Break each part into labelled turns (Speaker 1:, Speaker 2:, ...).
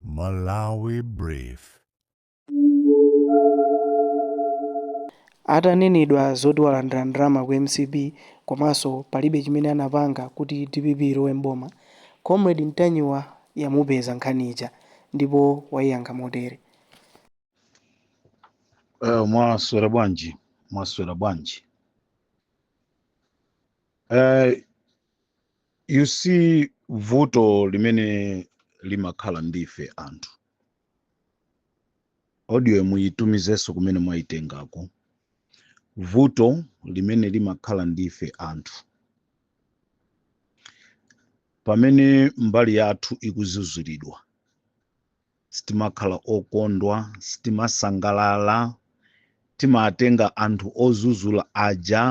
Speaker 1: Malawi Brief.
Speaker 2: Atanenedwa zoti walandira ndalama ku mcp komanso palibe chimene anapanga kuti dpp ilowe m'boma, Comrade Ntanyiwa yamupeza nkhani ija ndipo waiyankha motere.
Speaker 3: Eh, mwaswera bwanji mwaswera bwanji eh, you see vuto limene limakhala ndife anthu audio muyitumizenso kumene mwayitengako vuto limene limakhala ndife anthu pamene mbali yathu ikuzuzulidwa sitimakhala okondwa, sitimasangalala, timatenga anthu ozuzula aja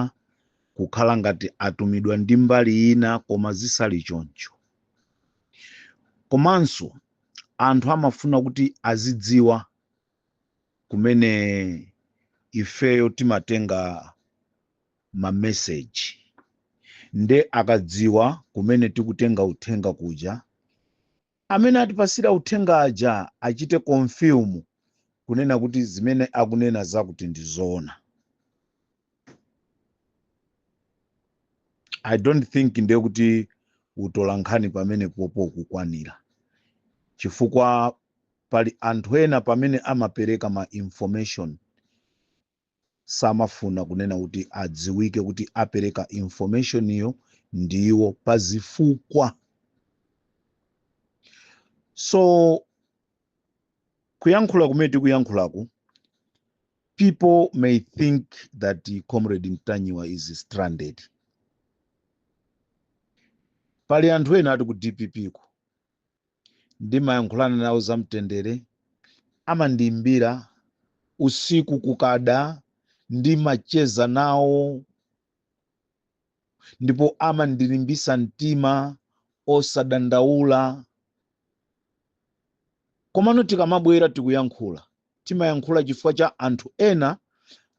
Speaker 3: kukhala ngati atumidwa ndi mbali ina koma zisali choncho. Komanso anthu amafuna kuti azidziwa kumene ifeyo timatenga mameseji nde akadziwa kumene tikutenga uthenga kuja Amene atipasira uthenga aja achite confirm kunena kuti zimene akunena zakuti ndizoona. I don't think ndiye kuti utolankhani pamenepopo ukukwanira chifukwa pali anthu ena pamene amapereka ma information samafuna kunena kuti adziwike kuti apereka information yo ndiwo pa zifukwa so kuyankhula kumene tikuyankhulaku people may think that uh, comrade mtanyiwa is stranded pali anthu ena ati ku dpp ku ndimayankhulana nawo zamtendere amandiimbira usiku kukada ndimacheza nawo ndipo amandilimbisa mtima osadandaula komano tikamabwera tikuyankhula Timayankhula chifukwa cha anthu ena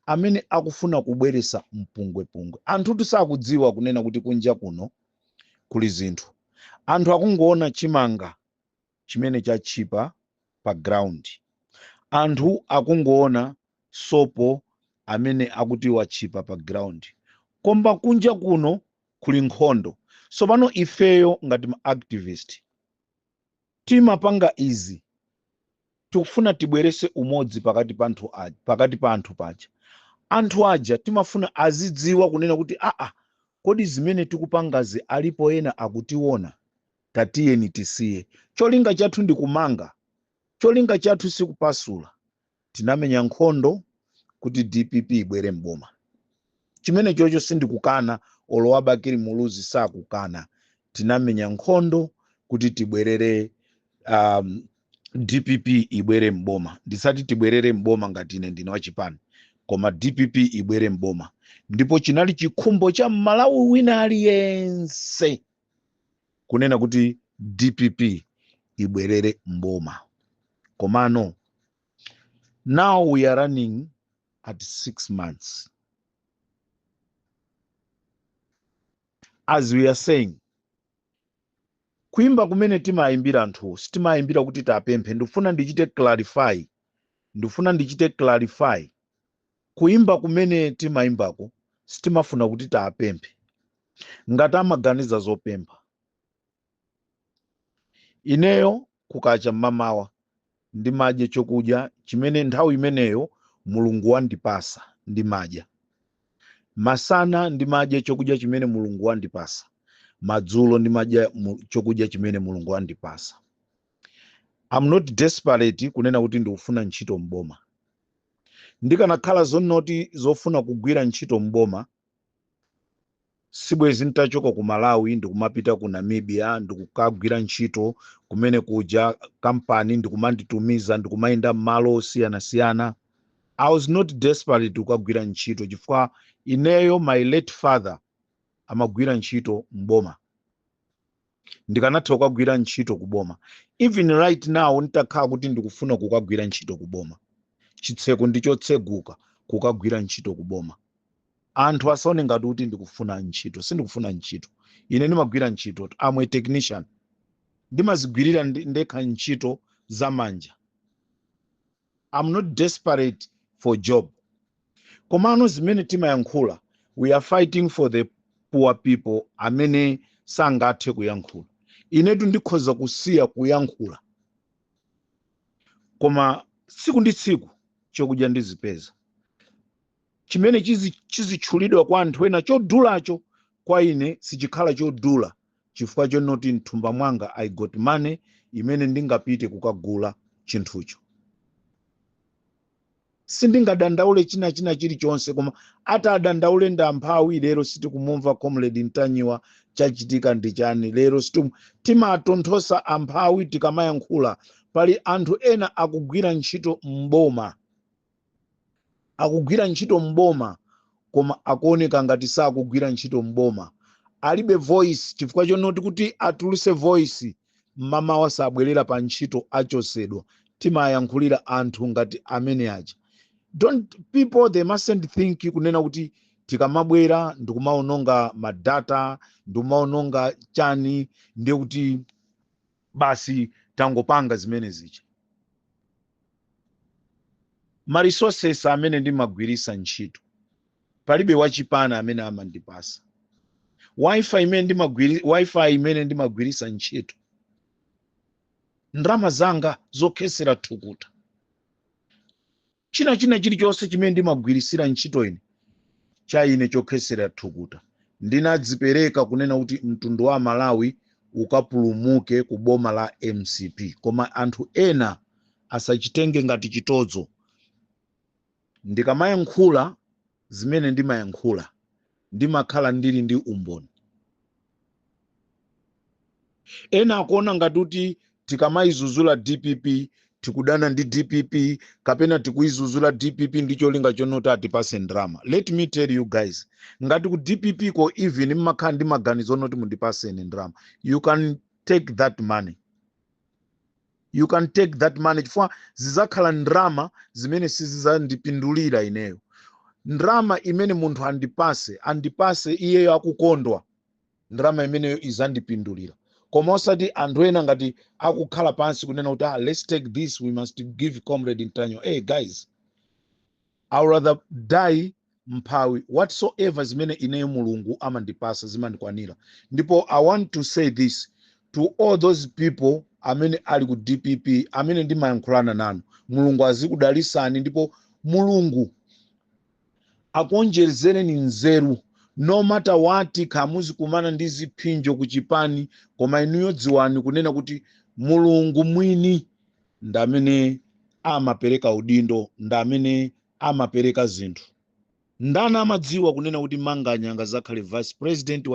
Speaker 3: amene akufuna kubweresa mpungwepungwe. Anthutu sakudziwa kunena kuti kunja kuno kuli zinthu. Anthu akungoona chimanga chimene chatchipa pa ground. Anthu akungoona sopo amene akuti watchipa pa ground. Koma kunja kuno kuli nkhondo. Tsopano ifeyo ngati ma activist Timapanga izi tikufuna tibwerese umodzi pakati pa anthu pakati pa anthu paja anthu aja timafuna azidziwa kunena kuti aa kodi zimene tikupangazi alipo ena akutiona tatiyeni tisiye cholinga chathu ndi kumanga cholinga chathu sikupasula tinamenya nkhondo kuti dpp ibwere m'boma chimenecho icho sindikukana olo a bakili muluzi sakukana tinamenya nkhondo kuti tibwerere um, dpp ibwere m'boma ndisati tibwerere m'boma ngati ine ndine wachipani koma dpp ibwere m'boma ndipo chinali chikhumbo cha mmalawi wina aliyense kunena kuti dpp ibwerere mboma komano now we are running at six months as we are saying kuimba kumene timayimbira anthuwo sitimayimbira kuti tapemphe ndifuna ndichite clarify ndifuna ndichite clarify Kuimba kumene timaimbako sitimafuna kuti tiwapemphe. Ngati amaganiza zopempha, ineyo kukacha mmamawa ndimadya chokudya chimene nthawi imeneyo Mulungu wandipasa ndimadya. Masana ndimadya chokudya chimene Mulungu wandipasa. Madzulo ndimadya mu- chokudya chimene Mulungu wandipasa. I'm not desperate kunena kuti ndikufuna ntchito m'boma. Ndikanakhala zonoti zofuna kugwira ntchito m'boma sibwezi ntachoka ku Malawi ndikumapita ku Namibia ndikukagwira ntchito kumene kuja kampani ndikumanditumiza ndikumayenda m'malo osiyanasiyana. I was not desperate kukagwira ntchito chifukwa ineyo my late father amagwira ntchito m'boma. ndikanatha kukagwira ntchito ku boma even right now nditakhala kuti ndikufuna kukagwira ntchito ku boma chitseko ndi chotseguka kukagwira ntchito ku boma anthu asaone ngati kuti ndikufuna ntchito sindikufuna ntchito ine ndimagwira ntchito I'm a technician ndimazigwirira ndi- ndekha ntchito za manja I'm not desperate for job komano zimene timayankhula we are fighting for the poor people amene sangathe kuyankhula inetu ndikhoza kusiya kuyankhula koma tsiku ndi tsiku chokudya ndizipeza chimene chizi- chizitchulidwa kwa anthu ena chodulacho kwa ine sichikhala chodula chifukwa chonoti mthumba mwanga i got money imene ndingapite kukagula chinthucho sindingadandaule china china chilichonse koma atadandaule ndi amphawi lero sitikumumva comrade mtanyiwa chachitika ndi chani lero situm timatonthosa amphawi tikamayankhula pali anthu ena akugwira ntchito mboma akugwira ntchito m'boma koma akuoneka ngati sakugwira ntchito m'boma alibe voice chifukwa chonoti kuti atuluse voice mmamawa sabwerera pa ntchito achosedwa timayankhulira anthu ngati amene aja don't people they mustn't think kunena kuti tikamabwera ndikumaononga madata ndikumaononga chani ndiye kuti basi tangopanga zimene zija ma resources amene ndimagwirisa ntchito palibe wachipani amene amandipasa wifi imene ndimagwiri wifi imene ndimagwirisa ntchito ndalama zanga zokhesera thukuta China, china chilichonse chimene ndimagwirisira ntchito ine, cha ine chokhesera thukuta, ndinadzipereka kunena kuti mtundu wa aMalawi ukapulumuke ku boma la mcp koma anthu ena asachitenge ngati chitodzo. Ndikamayankhula zimene ndimayankhula, ndimakhala ndili ndi umboni. Ena akuona ngati kuti tikamayizuzula dpp tikudana ndi dpp kapena tikuyizuzula dpp ndi cholinga chonoti atipase ndrama. Let me tell you guys, ngati ku dpp ko even mmakhala ndi maganizo onoti mundipase ine ndrama, you can take that money. you can take that money chifukwa zizakhala ndrama zimene sizizandipindulira ineyo ndrama imene munthu andipase andipase iyeyo akukondwa ndrama imeneyo izandipindulira koma osati anthu ena ngati akukhala pansi kunena kuti ah, let's take this we must give comrade mtanyiwa hey guys I'll rather die mphawi whatsoever zimene ineyo mulungu amandipasa zimandikwanira ndipo i want to say this to all those people amene ali ku dpp amene ndimayankhulana nanu mulungu azikudalisani ndipo mulungu akuonjezereni nzeru no matter what kaya muzikumana ndi ziphinjo ku chipani koma inuyo dziwani kunena kuti mulungu mwini ndi amene amapereka udindo ndi amene amapereka zinthu ndani amadziwa kunena kuti manganya azakhale vice president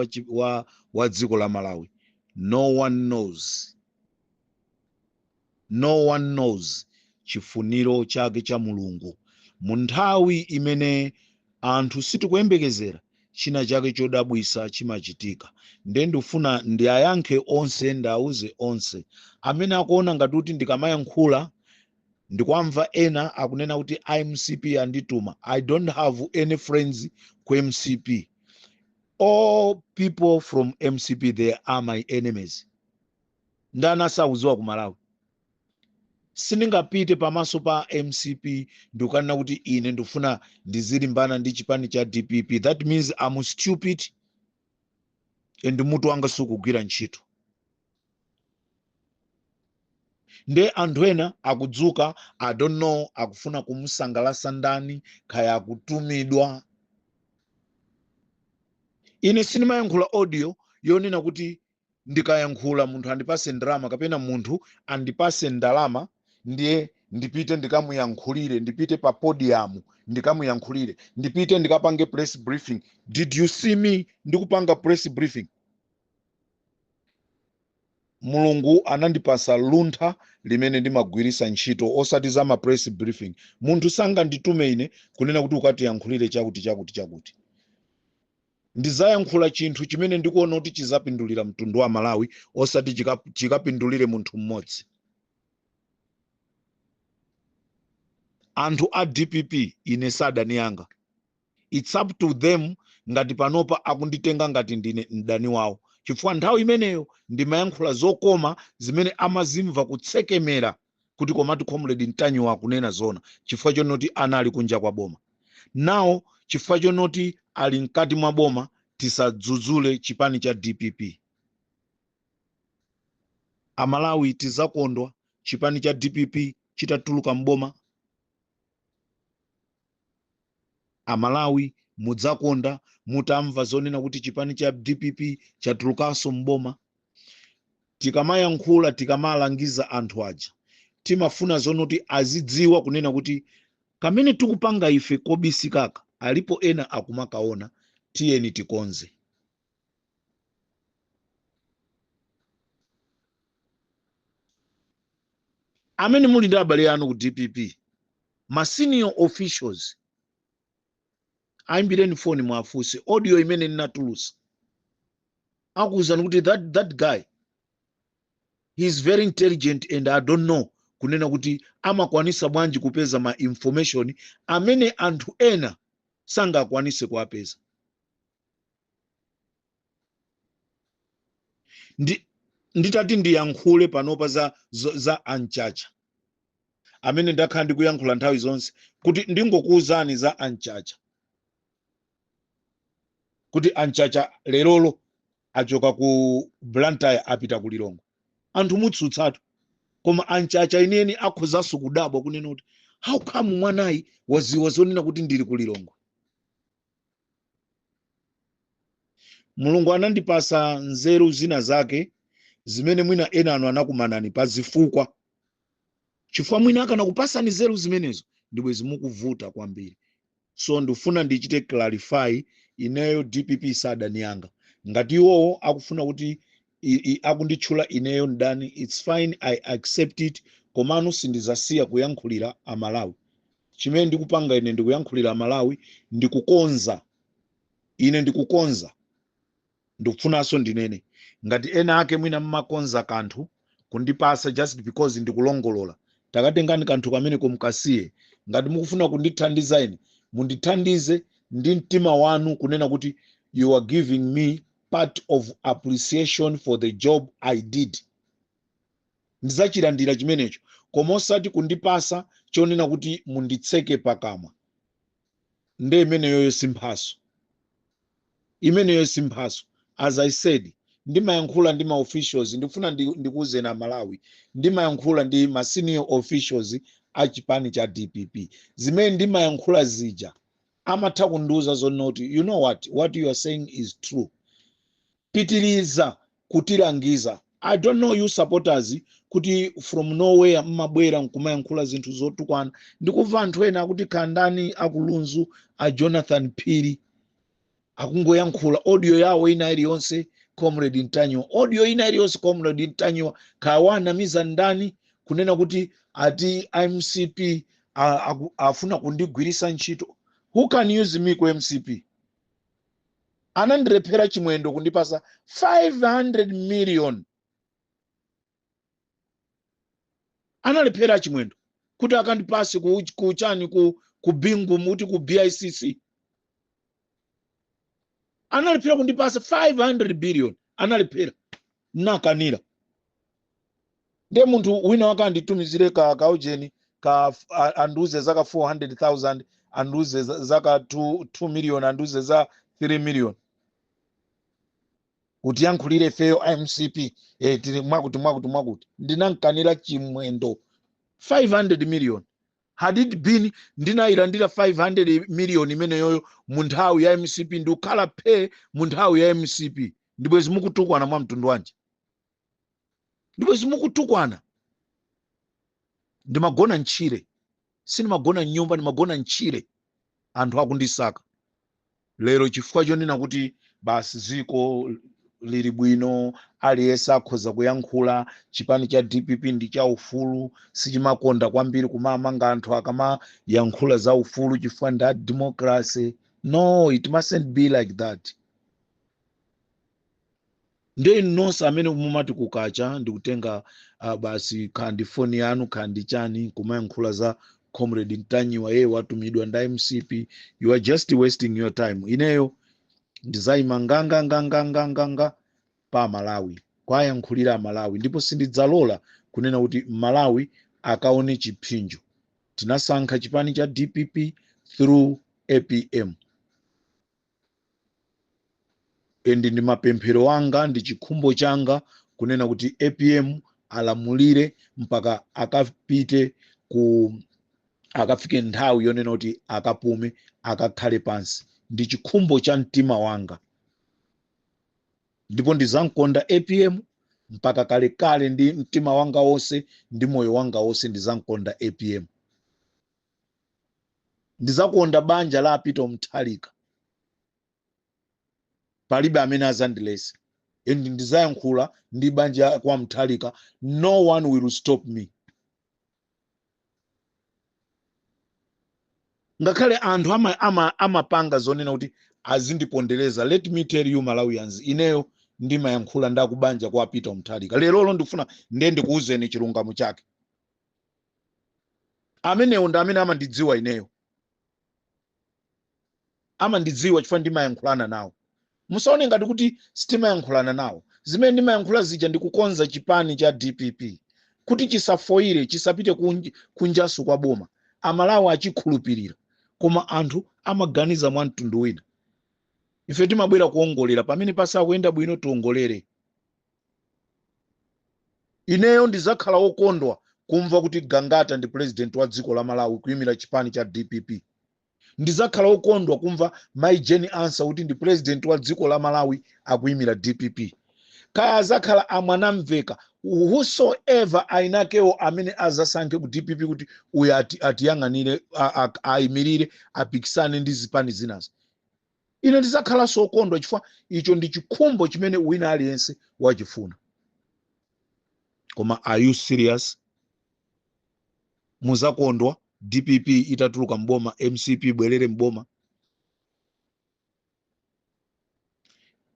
Speaker 3: wa dziko la malawi no one knows no one knows chifuniro chake cha mulungu mu nthawi imene Anthu sitikuyembekezera china chake chodabwisa chimachitika nde ndufuna ndiayankhe onse ndiauze onse amene akuona ngati kuti ndikamayankhula ndikuamva ena akunena kuti a mcp andituma i dont have any friends ku mcp all people from mcp they are my enemies ndani asakuziwa ku malawi sindingapite pamaso pa mcp ndi kukanena kuti ine ndikufuna ndizilimbana ndi chipani cha dpp that means am stupid and mutu wanga sukugwira ntchito nde anthu ena akudzuka i don't know akufuna kumusangalasa ndani kaya akutumidwa ine sindimayankhula audio yonena kuti ndikayankhula munthu andipase ndalama kapena munthu andipase ndalama ndiye ndipite ndikamuyankhulire ndipite pa podium ndikamuyankhulire ndipite ndikapange press briefing did you see me ndikupanga press briefing mulungu anandipasa luntha limene ndimagwirisa ntchito osati za ma press briefing munthu sanganditume ine kunena kuti ukatiyankhulire chakuti chakuti chakuti Ndizayankhula chinthu chimene ndikuona kuti chizapindulira mtundu wa Malawi osati chikapindulire munthu mmodzi. Anthu a dpp ine sadani yanga. It's up to them ngati panopa akunditenga ngati ndine mdani wawo chifukwa nthawi imeneyo ndimayankhula zokoma zimene amazimva kutsekemera kuti komatu comrade ntanyiwa akunena zoona chifukwa chonoti anali kunja kwa boma nawo chifukwa chonoti ali mkati mwa boma tisadzudzule chipani cha dpp amalawi tizakondwa chipani cha dpp chitatuluka mboma Amalawi mudzakondwa mutamva zonena kuti chipani cha dpp chatulukanso m'boma. Tikamayankhula, tikamalangiza anthu aja, timafuna zonoti azidziwa kunena kuti kamene tikupanga ife kobisikaka, alipo ena akumakaona, tiyeni tikonze. amene muli ndi abale anu ku dpp ma senior officials ayimbireni foni mwafunse audio imene ndinatulusa akuwuzani kuti that, that guy he is very intelligent and i don't know kunena kuti amakwanisa bwanji kupeza ma information amene anthu ena sangakwanise kuwapeza Ndi- nditati ndiyankhule panopa za, za, za anchacha amene ndakhala ndikuyankhula nthawi zonse kuti ndingokuwuzani za anchacha kuti anchacha lerolo achoka ku blantyre apita ku lilongwe anthu mutsutsatu koma anchacha enieni akhozanso kudabwa kunena kuti how come mwanayi waziwa zonena kuti ndili ku lilongwe mulungu anandipasa nzeru zina zake zimene mwina enanu anakumanani pa zifukwa chifukwa mwina akanakupasani nzeru zimenezo ndibwe zimukuvuta kwambiri so ndifuna ndichite clarify ineyo dpp si adani anga ngati iwowo akufuna kuti i- i- akunditchula ineyo mdani its fine i accept it komano sindizasiya kuyankhulira amalawi chimene ndikupanga ine ndikuyankhulira amalawi ndikukonza ine ndikukonza ndikufunanso ndinene ngati ena ake mwina mmakonza kanthu kundipasa just because ndikulongolola takatengani kanthu kameneko mkasiye ngati mukufuna kundithandiza ine mundithandize ndi mtima wanu kunena kuti you are giving me part of appreciation for the job i did ndizachilandira chimenecho koma osati kundipasa chonena kuti munditseke pakamwa nde imeneyoyo simphaso imeneyo simphaso as i said ndimayankhula ndi ma officials ndifuna ndi- ndikuwuzeni amalawi ndimayankhula ndi ma senior officials a chipani cha dpp zimene ndimayankhula zija amatha kundiuza zonoti you know what what you are saying is true pitiliza kutilangiza i don't know you supporters kuti from nowhere mmabwera nkumayankhula zinthu zotukwana ndikumva anthu ena akuti kaya ndani akuluwa a jonathan phiri akungoyankhula audio yawo ina iliyonse comrade ntanyiwa audio ina iliyonse comrade ntanyiwa kaya wawanamiza ndani kunena kuti ati mcp a- aku- afuna kundigwirisa ntchito who can use me ku mcp anandilephera chimwendo kundipasa 500 million analephera chimwendo kuti akandipase ku, ku chani ku, ku bingu uti ku bicc analephera kundipasa 500 billion analephera nakanira nde munthu wina wake anditumizire ka kaujeni ka f- a- andiuze zaka 400000 andiuze za- zaka 2 2 million andiuze za 3 million kuti yankhulire ifeyo a mcp eh, tili mwakuti mwakuti mwakuti ndinamkanira chimwendo 500 million had it been ndinayilandira 500 million imeneyoyo mu nthawi ya mcp ndikukhala phe mu nthawi ya mcp ndibwezi mukutukwana mwa mtundu wanji ndibwezi mukutukwana ndimagona mtchire sindimagona mnyumba ndimagona mtchire anthu akundisaka lero chifukwa chonena kuti basi dziko lili bwino aliyense akhoza kuyankhula chipani cha dpp ndi cha ufulu sichimakonda kwambiri kumamanga anthu akamayankhula za ufulu chifukwa ndi a democracy no it mustn't be like that nde inu nonse amene mumati kukacha ndikutenga ah, basi kaya ndi foni yanu kaya ndi chani kumayankhula za comrade ntanyiwa uyo watumidwa nda mcp you are just wasting your time ineyo ndizayima nganganganganganganga pa amalawi kuwayankhulira amalawi ndipo sindidzalola kunena kuti malawi akaone chipsinjo tinasankha chipani cha dpp through apm And ndi mapemphero anga ndi chikhumbo changa kunena kuti apm alamulire mpaka akapite ku akafike nthawi yonena kuti akapume akakhale pansi ndi chikhumbo cha mtima wanga ndipo ndizamkonda apm mpaka kalekale ndi mtima wanga wonse ndi moyo wanga wonse ndizamkonda apm ndizakonda banja la a peter mutharika palibe amene azandiletse and ndizayankhula ndi banja kwa mutharika no one will stop me ngakhale anthu amapanga ama, ama amapanga zonena kuti azindipondereza let me tell you malawians ineyo ndimayankhula nda kubanja kwa a peter mutharika lerolo ndifuna nde ndikuwuzeni chilungamo chake Amenewo ndi amene amandidziwa ineyo. Amandidziwa chifukwa ndimayankhulana nawo. Musaone ngati kuti sitimayankhulana nawo. Zimene ndimayankhula zija ndi kukonza chipani cha dpp kuti chisafoyire, chisapite kunjaso kwa boma, Amalawi achikhulupirira. Koma anthu amaganiza mwa mtundu wina. Ife timabwera kuwongolera. Pamene pasakuyenda bwino tiwongolere. Ineyo ndizakhala wokondwa kumva kuti Gangata ndi President wa dziko la Malawi kuimira chipani cha dpp. Ndizakhala wokondwa kumva Mai Jane Ansah kuti ndi President wa dziko la Malawi akuimira dpp. Kaya azakhala a Mwanamveka, who so ever ainakeo amene azasankhe ku dpp kuti uyu ati, atiyang'anire, a, a, aimilire, apikisane ndi zipani zinazi. Ine ndidzakhalanso wokondwa chifukwa icho ndi chikhumbo chimene wina aliyense wachifuna. Koma are you serious? Muzakondwa dpp itatuluka mboma, mcp ibwerere mboma.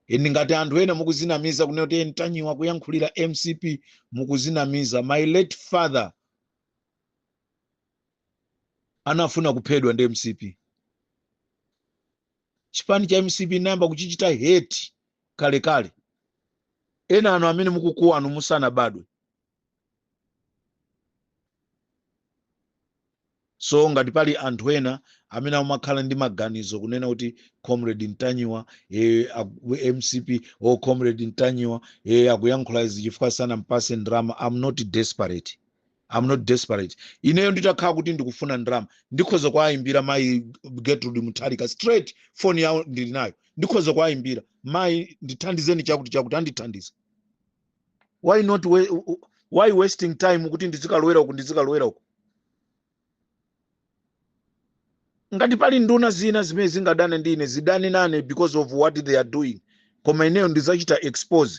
Speaker 3: Endi ngati anthu ena mukuzinamiza kunena kuti Ntanyiwa akuyankhulira mcp mukuzinamiza. My late father anafuna kuphedwa ndi mcp chipani cha mcp nayamba kuchichita hate kalekale ena anu amene mukukuwanu musanabadwe so ngati pali anthu ena amene amakhala ndi maganizo kunena kuti comrade ntanyiwa e, mcp o comrade ntanyiwa e, akuyankhula izi chifukwa sanampase ndrama am not desperate am not desperate ineyo nditakhala kuti ndikufuna ndalama ndikhoza kuwayimbira mayi gertrude mutharika straight foni yawo ndili nayo ndikhoza kuwayimbira mayi ndithandizeni chakuti chakuti andithandiza why not we, why wasting time kuti ndizikalowera uku ndizikalowera uku ngati pali nduna zina zimene zingadane ndi ine zidane nane because of what they are doing koma ineyo ndizachita expose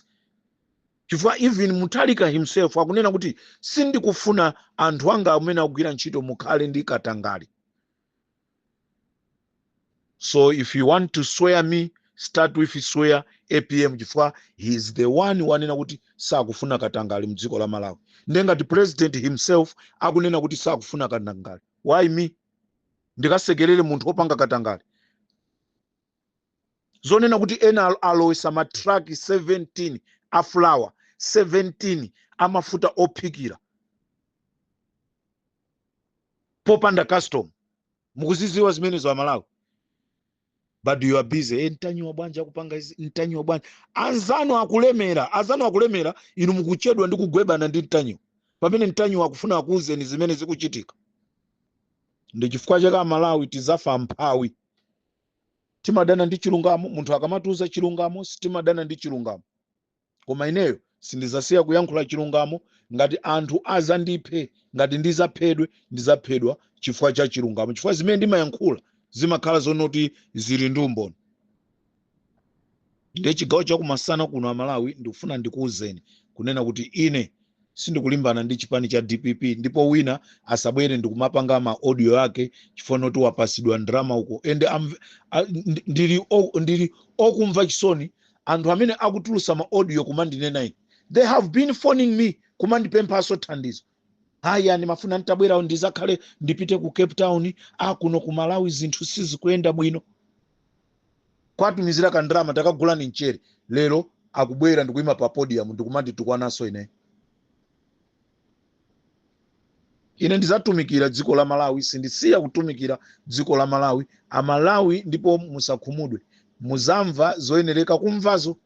Speaker 3: chifukwa even mutharika himself akunena kuti sindikufuna anthu anga amene akugwira ntchito mukhale ndi katangale so if you want to swear me start with swear apm chifukwa he is the one wanena kuti sakufuna katangale mdziko la malawi nde ngati president himself akunena kuti sakufuna katangale why me ndikasekerere munthu wopanga katangale zonena kuti ena alo- alowesa matraki 17 a flour 17 amafuta ophikira popanda custom mukuziziwa zimenezo amalawi but you are busy e ntanyiwa bwanji akupanga izi ntanyiwa bwanji anzanu akulemera anzanu akulemera inu mukuchedwa ndi kugwebana ndi ntanyiwa pamene ntanyiwa akufuna akuuzeni zimene zikuchitika ndi chifukwa chake amalawi tizafa mphawi timadana ndi chilungamo munthu akamatiuza chilungamo timadana ndi chilungamo Koma ineyo sindizasiya kuyankhula chilungamo ngati anthu azandiphe ngati ndizaphedwe ndizaphedwa chifukwa cha chilungamo chifukwa zimene ndimayankhula zimakhala zonena kuti zili ndi umboni ndiye chigawo chakumasana kuno amalawi ndikufuna ndikuwuzeni kunena kuti ine sindikulimbana ndi chipani cha dpp ndipo wina asabwere ndikumapanga ma audio ake chifukwa noti wapasidwa ndrama uko and ndi- ndili okumva chisoni anthu amene akutulusa ma audio kumandinena ine they have been phoning me kumandipemphanso thandizo haya ndimafuna nditabwera ndizakhale ndipite ku cape town kuno ku malawi zinthu sizikuyenda bwino kwatumizira kandrama takagulani mchere lero akubwera ndikuyima pa podium ndikumanditukwananso ine ine ndizatumikira dziko la malawi sindisiya kutumikira dziko la malawi amalawi ndipo musakhumudwe muzamva zoyenereka kumvazo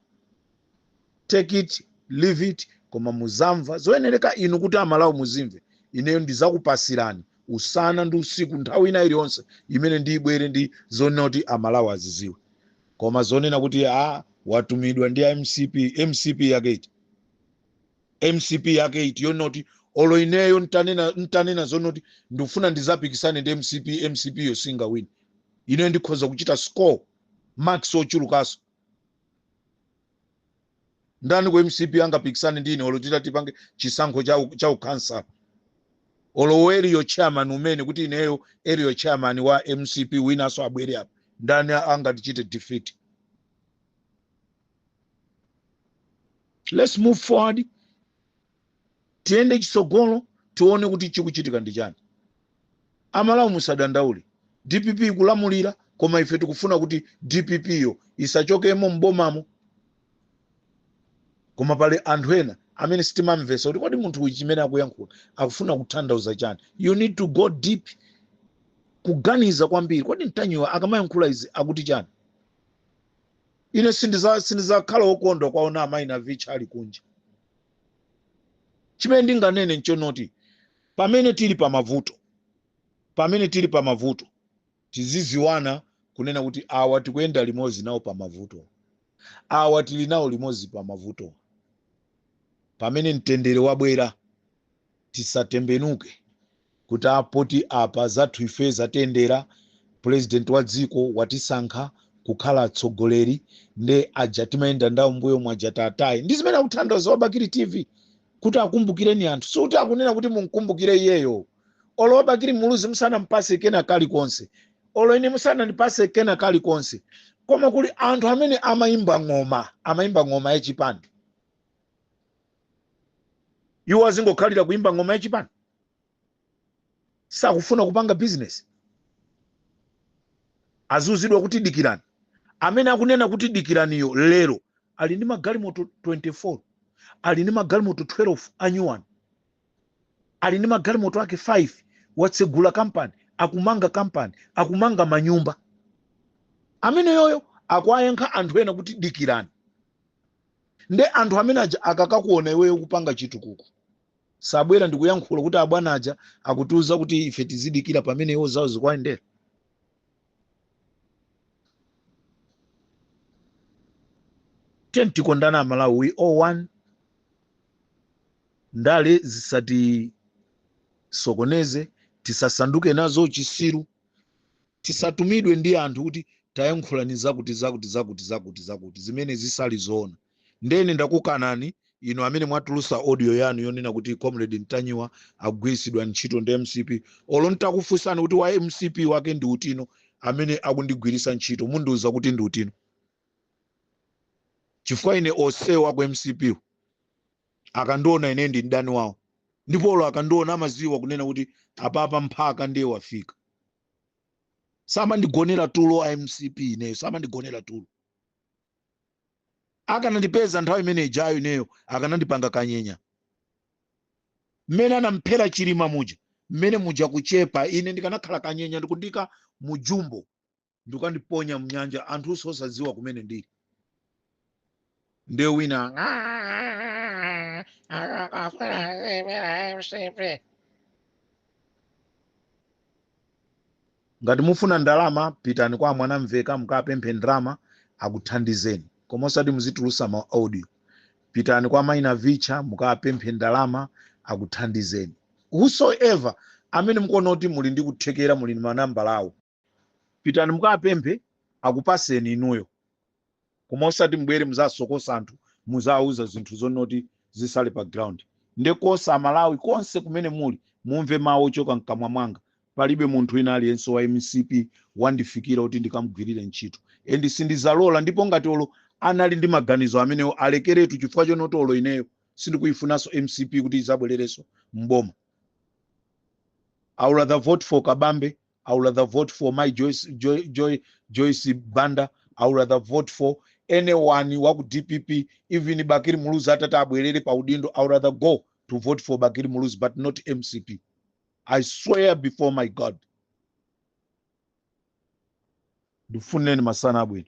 Speaker 3: take it leave it koma muzamva zoyenereka inu kuti amalawi muzimve ineyo ndizakupasirani usana ndi usiku nthawi ina iliyonse imene ndibwere ndi zonena kuti amalawi aziziwe koma zonena kuti a watumidwa ndi a mcp mcp yake iti mcp yake iti yonena kuti olo ineyo ntanena zonena kuti ndikufuna ndizapikisane ndi mcp mcp yo singawine ineyo ndikhoza kuchita score marks ochulukaso ndani ku mcp angapikisane ndi ine olo titatipange chisankho cha u- cha ukhansala olo area chairman umene kuti ineyo area chairman wa mcp winaso abwere apa ndani angatichite defeat let's move forward tiyende chitsogolo tione kuti chikuchitika ndi chani amalawi musadandaule dpp ikulamulira koma ife tikufuna kuti dpp yo isachokemo m'bomamo koma pali anthu ena amene sitimamvesa kuti kodi munthu uyu chimene akuyankhula akufuna kutanthauza chani you need to go deep kuganiza kwambiri kodi mtanyiwa akamayankhula izi akuti chani ine sindiza- sindizakhala wokondwa kwaona amayi Navicha ali kunja chimene ndinganene nchonoti pamene tili pa mavuto pamene tili pa mavuto tiziziwana kunena kuti awa tikuyenda limodzi nawo pa mavuto awa tili nawo limodzi pa mavuto pamene mtendere wabwera tisatembenuke kuti a poti apa zathu ife zatiyendera, pulezidenti wa dziko watisankha kukhala atsogoleri nde aja timayenda ndawo mbuyomu aja tataye. Ndi zimene akutanthauza wa Bakili TV kuti akumbukireni anthu, sikuti akunena kuti mumkumbukire iyeyo. Olo wa Bakili Muluzi musanampase kena kalikonse, olo ine musanandipase kena kalikonse, koma kuli anthu amene amayimba ng'oma, amayimba ng'oma ya chipani. iwo azingokhalira kuimba ng'oma ya chipani sakufuna kupanga bizinesi aziuzidwa kuti dikirani amene akunena kuti dikiraniyo lero ali ndi magalimoto 24 ali ndi magalimoto 12 anyuwani ali ndi magalimoto ake 5 watsegula kampani akumanga kampani akumanga manyumba ameneyoyo akuwayankha anthu ena kuti dikirani nde anthu amene aja akakakuona iweyo ukupanga chitukuko sabwera ndikuyankhula kuti abwana aja akutiuza kuti ife tizidikira pamene iwo zawo zikuwayendera tiyeni tikondane amalawi we all one ndale zisatisokoneze tisasanduke nazo chisiru tisatumidwe ndi anthu kuti tayankhulani zakuti zakuti zakuti zakuti zakuti zimene zisali zoona ndene ndakukanani inu amene mwatulusa audio yanu yonena kuti comrade ntanyiwa akugwiritsidwa ntchito ndi mcp olo ntakufunsani kuti wa mcp wake ndi utino amene akundigwiritsa ntchito mundiuza kuti ndi utino chifukwa ine onse a ku mcp wo akandiona ine ndi mdani wawo ndipo olo akandiona amaziwa kunena kuti apapa mphaka ndiye wafika samandigonera tulo a mcp ineyo samandigonera tulo akanandipeza nthawi imene ijayo ineyo akanandipanga kanyenya mmene anamphera chilima muja mmene muja kuchepa ine ndikanakhala kanyenya ndikundiika mujumbo ndikandiponya mnyanja anthu osadziwa kumene ndili nde wina "Ah, akafuna zipera mcp ngati mufuna ndalama pitani kwa mwanamvekha mukapemphe ndalama akuthandizeni koma osati muzitulusa ma audio pitani kwa mayi navicha mukapemphe ndalama akuthandizeni whosoever amene mukuona kuti muli ndi kuthekera muli ndi manambala awo pitani mukapemphe akupaseni inuyo koma osati mbwere muzasokosa anthu muzawuza zinthu zonoti zisale pa ground nde because a amalawi konse kumene muli mumve mawu ochoka mkamwa mwanga palibe munthu wina aliyense wa mcp wandifikira kuti ndikamgwirire ntchito and sindizalola ndipo ngati olo anali ndi maganizo amenewo alekeretu chifukwa chonoti olo ineyo sindikuyifunanso mcp kuti izabwererenso mboma i would rather vote for kabambe i would rather vote for my joyce, joy, joy, joyce banda i would rather vote for anyone wa ku dpp even bakiri muluzi atati abwerere pa udindo i would rather go to vote for bakiri muluzi but not mcp i swear before my god ndifuneni masana abwino